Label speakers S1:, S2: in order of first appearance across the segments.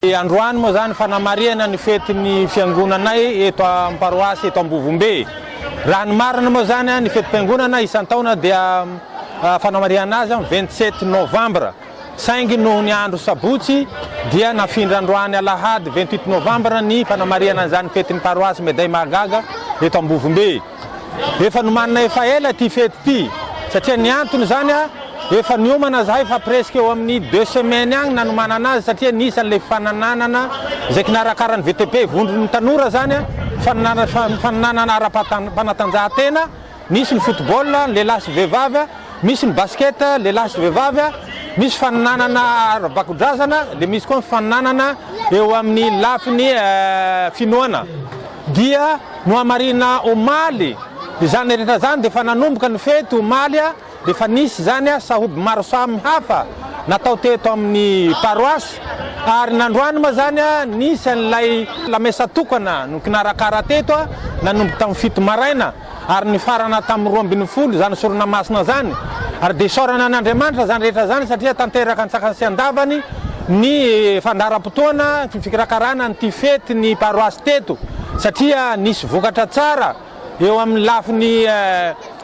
S1: Androany moa izany fanamarihana ny fetin'ny fiangonanay eto amin'ny paroasy eto Ambovombe. Raha ny marina moa izany ny fetim-piangonana isan-taona dia fanamarihana azy amin'ny vingt sept novambra saingy noho ny andro sabotsy dia nafindra androany alahady vingt huit novambra ny fanamarihana izany fetin'ny paroasy Meday Mahagaga eto Ambovombe. Efa nomanina efa ela ity fety ity satria ny antony izany efa niomana zahay fa presque eo amin'ny deux semaines agny nanomanana azy satria nisy an'ilay fanananana izay kinarakaran'ny VTP vondron'ny tanora izany fanananana fanananana ara-panatanjahantena misy ny football lehilahy sy vehivavy misy ny basket lehilahy sy vehivavy misy fanananana ara-bakudrazana dia misy koa ny fanananana eo amin'ny lafiny finoana dia Nohamarina omaly izany rehetra izany dia efa nanomboka ny fety omaly dia efa nisy izany sahoby maro samy hafa natao teto amin'ny paroasy ary nandroany moa izany nisy an'ilay lamesa tokana nokinarakara teto nanomboka tamin'ny fito maraina ary nifarana tamin'ny roa ambin'ny folo izany sorona masina izany ary dia isaorana an'Andriamanitra izany rehetra izany satria tanteraka an-tsakany sy an-davany ny fandaharam-potoana fikarakarana an'ity fety ny paroasy teto satria nisy vokatra tsara eo amin'ny lafiny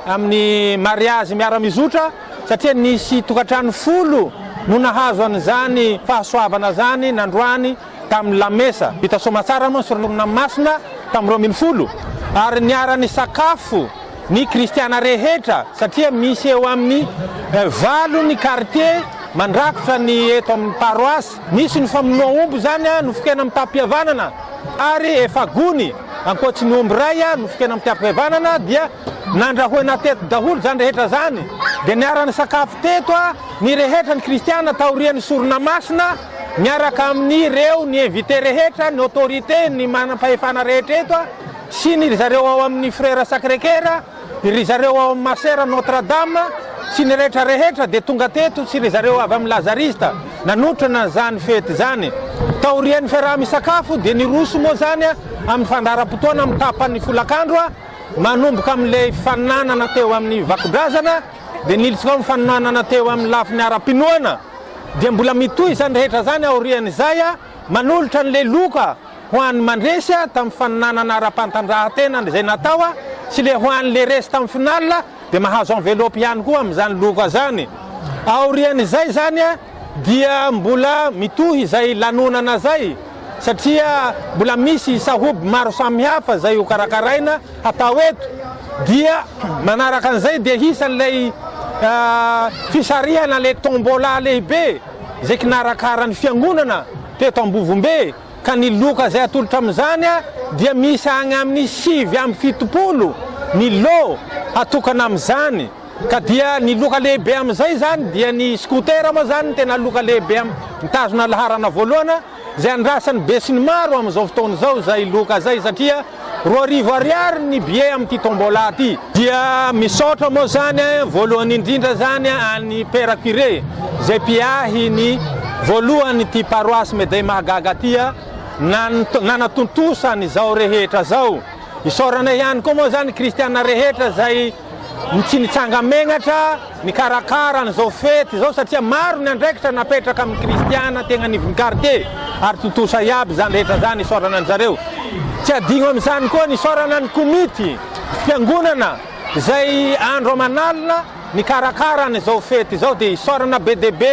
S1: amin'ny mariazy miara-mizotra satria nisy tokantrano folo no nahazo an'izany fahasoavana izany nandroany tamin'ny lamesa vita soamantsara moa ny sorona masina tamin'ny roa ambin'ny folo ary niara-nisakafo ny kristiana rehetra satria misy eo amin'ny valo ny kartie mandrakotra ny eto amin'ny paroasy, misy ny famonoa omby izany a nofokena amitam-pihavanana ary efa gony ankoatry ny omby ray a nofokena amitam-pihavanana dia nandrahoina teto daholo izany rehetra izany dia niara-nisakafo teto a ny rehetra ny kristiana taorian'ny sorona masina miaraka amin'ireo ny invite rehetra ny autorite ny manam-pahefana rehetra eto a sy ny ry zareo ao amin'ny Frères Sacré Coeur, ry zareo ao amin'ny Masera Notre Dame sy ny rehetra rehetra dia tonga teto sy ry zareo avy amin'ny Lazariste nanotrona izany fety izany. Taorian'ny fiaraha-misakafo dia niroso moa izany amin'ny fandaharam-potoana amin'ny tapan'ny folakandro, manomboka amin'ilay fanonaanana teo amin'ny vakodrazana dia niltsika ao amin'ny fanonaanana teo amin'ny lafiny ara-pinoana dia mbola mitohy izany rehetra izany aorian'izay manolotra an'ilay loka ho an'ny mandresy tamin'ny faninanana ara-pantanjahan-tena izay natao sy le ho an'ny le resy tamin'ny final dia mahazo envelope ihany koa amin'izany loka zany. Aorian'izay zany dia mbola mitohy izay lanonana zay satria mbola misy sahoby maro samy hafa zay ho karakaraina hatao eto dia manaraka an'izay dia hisan'ilay fisarihana le tombola lehibe. izay kinarakaran'ny fiangonana teto Ambovombe ka ny loka izay atolotra amin'izany dia miisa any amin'ny sivy amby fitopolo ny lot hatokana amin'izany ka dia ny loka lehibe amin'izay izany dia ny scooter moa izany no tena loka lehibe mitazona laharana voalohana izay andrasan'ny besinimaro amin'izao fotoana izao izay loka izay satria roa arivo ariary ny billet amin'ity tombola ity. Dia misaotra moa izany voalohany indrindra izany an'i Père Curé izay mpiahy ny voalohan'ity paroasy Médey Mahagaga ity nanatontosa an'izao rehetra izao. Isaorana ihany koa moa izany kristiana rehetra izay. no tsy nitsanga megnatra nikarakara an'izao fety izao satria maro ny andraikitra napetraka amin'ny kristiana tegna anivon'ny kartie ary tontosa iaby izany rehetra izany isaorana an-dry zareo. Tsy adino amin'izany koa ny isaorana ny komity fiangonana izay andro aman'alina nikarakara an'izao fety izao dia isaorana be dia be